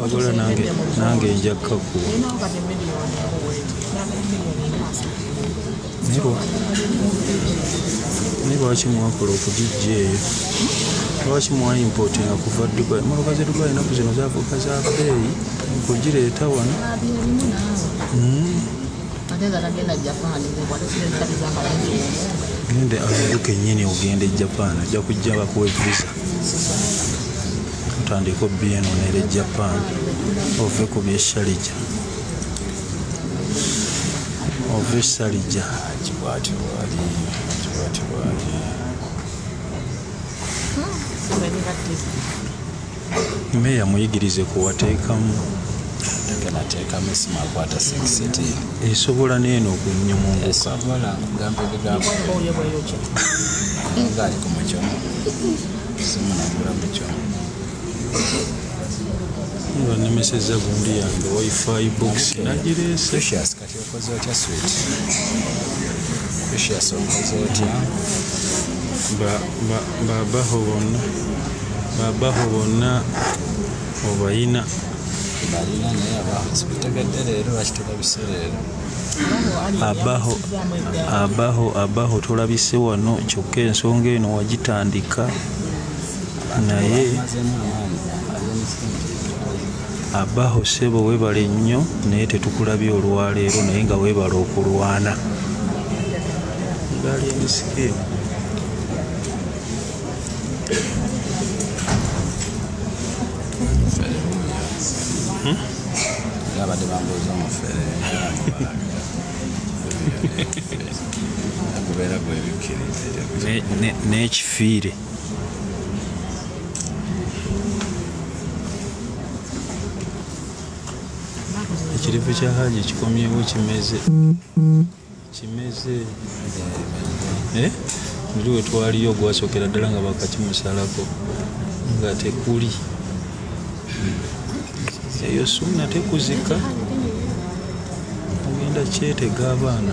wabula nange nange nja kakuwa naye lwaki mwakola okugijja eyo lwaki mwaimpotinga kuva dubai motoka ze dubai enaku zino zafuuka za beeyi kugireeta wano hmm? gende azidu kenyini ogenda e japan ajja kujja bakuwa evisa otandika obienonera e japan ove ku byeshalija ovisalija kibwati bwali kibwati bwali meya muyigirize kuwateekamu nateekamu esimu akwata sekiseti esobola neeno okunyumungukasobola kugamba ebigambo ngaali ku mucomo simu nagula mucomo banemeseza gundi yange wifi box nagireese kati okoze otya swit precious okoze otya babaho bonna babaho bonna obayina balina naye abategadde leero bakitulabise leero abaho abaho abaho tulabise wano kyokka ensonga eno wagitandika naye abaho sebo webale nnyo naye tetukulabye olwaleero naye nga webale okulwana gaali emisike abadde bambuuza omufere gubeera gwebikkiriza n'ekifiire ekirivu kya haji kikomyewo kimeze kimeze eh? muli wetwaliyo ogwasokera ddala nga bakakimusalako nga tekuli eyo sunna tekuzika ogenda kyetega abaana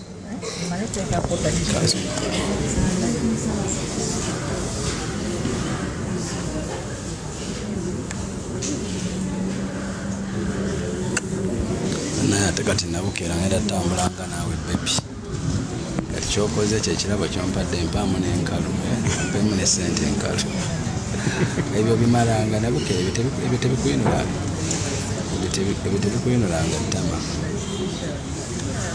naye ate kati nabukeera ngenda tambulanga naawe bebi kati kyokoze ekyo ekirabo kyompadde empaamu nenkalu mpemu ne sente enkalu ebyo bimalanga nabukeera ebyo tebikuyinulanga ebyo tebikuyinulanga ttama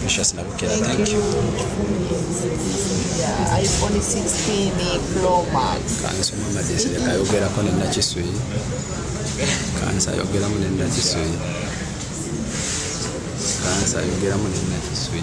Precious Nabukela, thank you. Yeah, iPhone 16 Pro Max. Kanso mama desi leka yogera kone na chisui. Kansa yogera mune na chisui. Kansa yogera mune na chisui.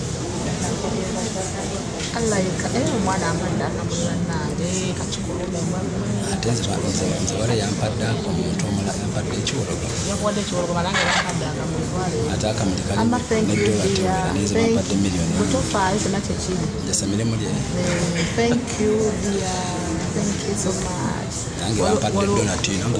ate nze wala yampadde ako omuntu omula yampadde ekiwologo ate akamutekalnedolateeranezemapadde miliyoni jasa mirimu lye nange bampadde donati nange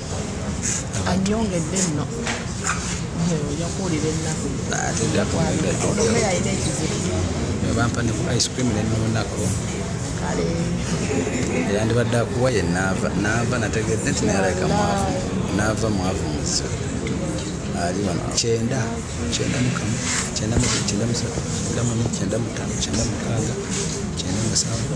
anyongedde nno oja kuwulira ennaku omubeera alina ekizibu bampa ne ku ice cream nennuunako kale yandibadde akuwa ye naava naava nategedde nti nayalabika mwavu naava mwavu muzi ali wano kyenda kyenda mukamu kyenda musatu kyenda mune kyenda mutano kyenda mukaaga kyenda musanvu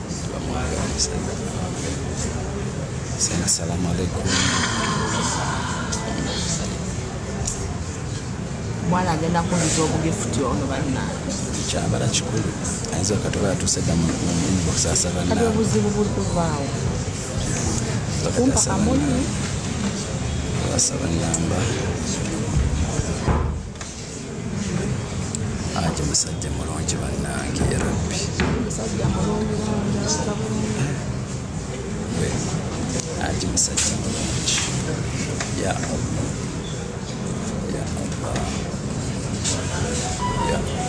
Sema salamu alaikum. mwana agenda kunyiza obugifuti ono bannange Kyabala kikulu. Ayinza okatuba yatuuse dda mu mu inbox asaba kati naawe. obuzibu buli kuvaawo Wakati kumpa asaba kamuli naawe. Asaba namba. aje musajja mulungi bannange yarabbi aje musajja mulungi ya allah ya allah ya allah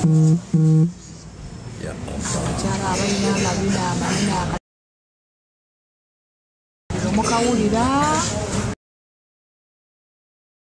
ya allah mukawulira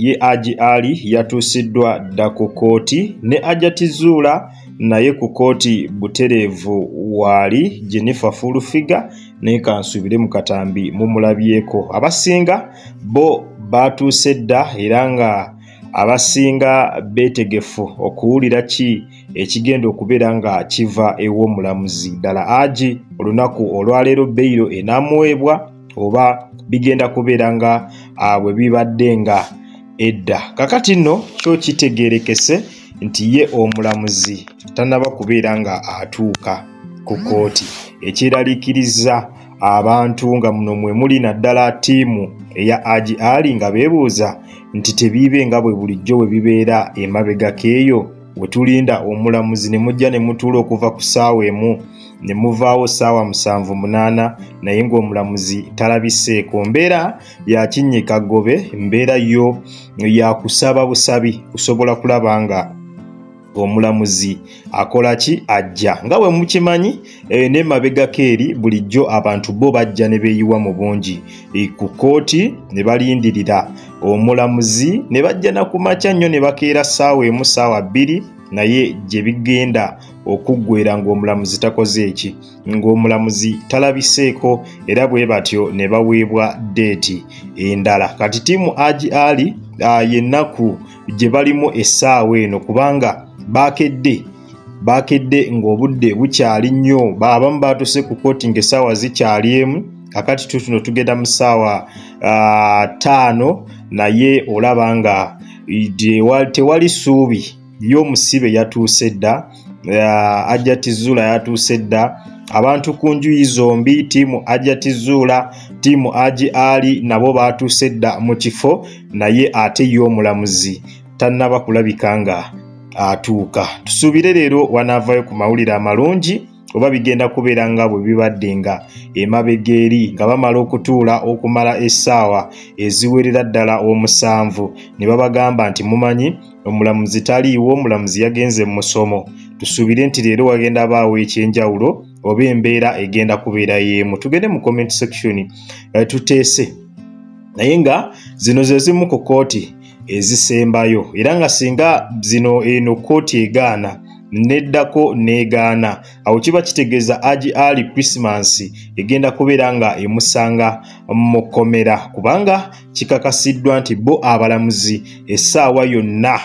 ye Aji Ali yatuusiddwa dda ku kkooti ne Ajati Zuula naye ku kkooti butereevu waali Jennifer Fullfiga naye kansuubire mu katambi mumulabyeko abasinga bo baatuuse dda era nga abasinga beetegefu okuwulira ki ekigenda okubeera nga kiva ew'omulamuzi ddala agi olunaku olwaleero beyiro enaamuweebwa oba bigenda kubeera nga bwe bibadde nga edda kakati nno kyo kitegeerekese nti ye omulamuzi tanaba kubeera nga atuuka ku kooti ekyeraliikiriza abantu nga muno mwe muli naddala ttiimu eya agi ali nga beebuuza nti tebiibe nga bwe bulijjo bwe bibeera emabegako eyo we tulinda omulamuzi ne mujja ne mutuula okuva ku ssaawa emu ne muvaawo ssaawa musanvu munaana naye ng'omulamuzi talabiseeko mbeera yakinnyika ggobe mbeera yo yakusaba busabi kusobola kulaba nga omulamuzi akola ki ajja nga bwe mukimanyi Eh, ne mabegako eri bulijjo abantu bo bajja ne beeyiwa mu bungi eh, ku kkooti ne balindirira omulamuzi ne bajja na ku makya nnyo ne bakeera ssaawa emu ssaawa bbiri naye gye bigenda okuggwera ng'omulamuzi takoze eki ng'omulamuzi talabiseeko era bwe batyo ne baweebwa deeti endala kati tiimu agi ali ah, yennaku gye balimu essaawa eno kubanga baakedde baakedde ng'obudde bukyali nnyo baabamu baatuse ku kooti ng'essaawa zikyali emu kakati tutuno tugenda mu ssaawa ttaano naye olaba nga tewali ssuubi y'omusibe yatuuse dda ajjati zuula yatuuse dda abantu ku njuyi zombi tiimu ajati zuula tiimu agi ali nabo baatuuse dda mu kifo naye ate ye omulamuzi tannaba kulabika nga atuuka tusuubire leero wanaavaayo ku mawulire amalungi oba bigenda kubeera nga bwe bibadde nga emabega eri nga bamala okutuula okumala essaawa eziwerera ddala omusanvu ne babagamba nti mumanyi omulamuzi taliiwo omulamuzi yagenze mu musomo tusuubire nti leero wagenda baawo ekyenjawulo oba embeera egenda kubeera y'emu tugende mu comment section eh, tuteese naye nga zino ze zimu ku kooti ezisembayo era nga singa zino eno kkooti egaana neddako negaana awo kiba kitegeeza agi ali christmas egenda kubeera nga emusanga mu kkomera kubanga kikakasiddwa nti bo abalamuzi essaawa yonna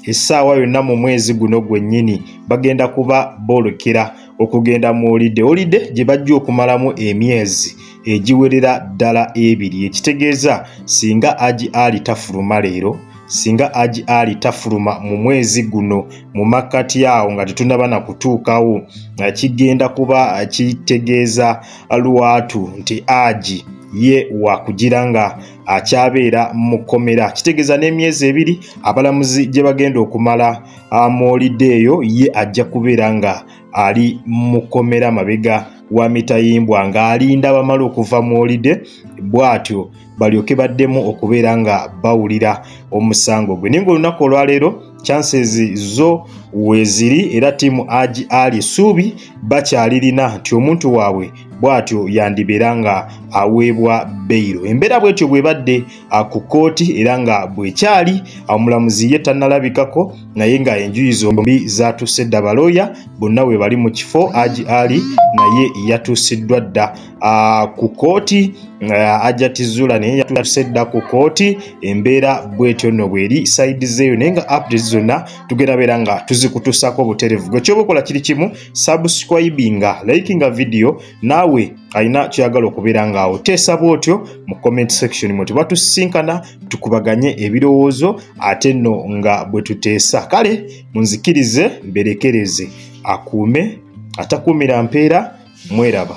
essaawa yonna mu mwezi guno gwennyini bagenda kuba boolekera okugenda mu olide olide gye bajja okumalamu emyezi egiwerera ddala ebiri ekitegeeza singa agi ali tafuluma leero singa agi ali tafuluma mu mwezi guno mu makkati awo nga tetunaba na kutuukawo nga kigenda kuba kitegeeza lwatu nti agi ye wakugira nga akyabeera mu kkomera kitegeeza n'emyezi ebiri abalamuzi gye bagenda okumala amawulidde eyo ye ajja kubeera nga ali mukomera mabega wa mitayimbwa ng'alinda bamala okuva mu olide bw'atyo balyoke baddemu okubeera nga bawulira omusango gwe naye ngaolunaku olwaleero chances zo weeziri era tiimu agi ali suubi bakyalirina nti omuntu waabwe bw'atyo yandibeera nga aweebwa beyiro embeera bw'etyo bw'ebadde ku kkooti era nga bwekyali omulamuzi ye tannalabikako naye nga enjuyi zombi zatuuse dda balooya bonna we bali mu kifo aji ali naye yatuusiddwa dda ku kkooti ajatizula naye yatuuse dda ku kkooti embeera bwetyo nno bweri saidi zeeyo naye nga updates zonna tugenda beera nga tuzikutuusaako obuterevu gwe kyoba okola kiri kimu subscribinga likinga vidiyo naawe alina kyoyagala okubeera ngaawo teesa bwotyo mu comment section mwe tuba tusisinkana tukubaganye ebirowoozo ate nno nga bwe tuteesa kale munzikirize mberekereze akuume atakuumira mpeera mweraba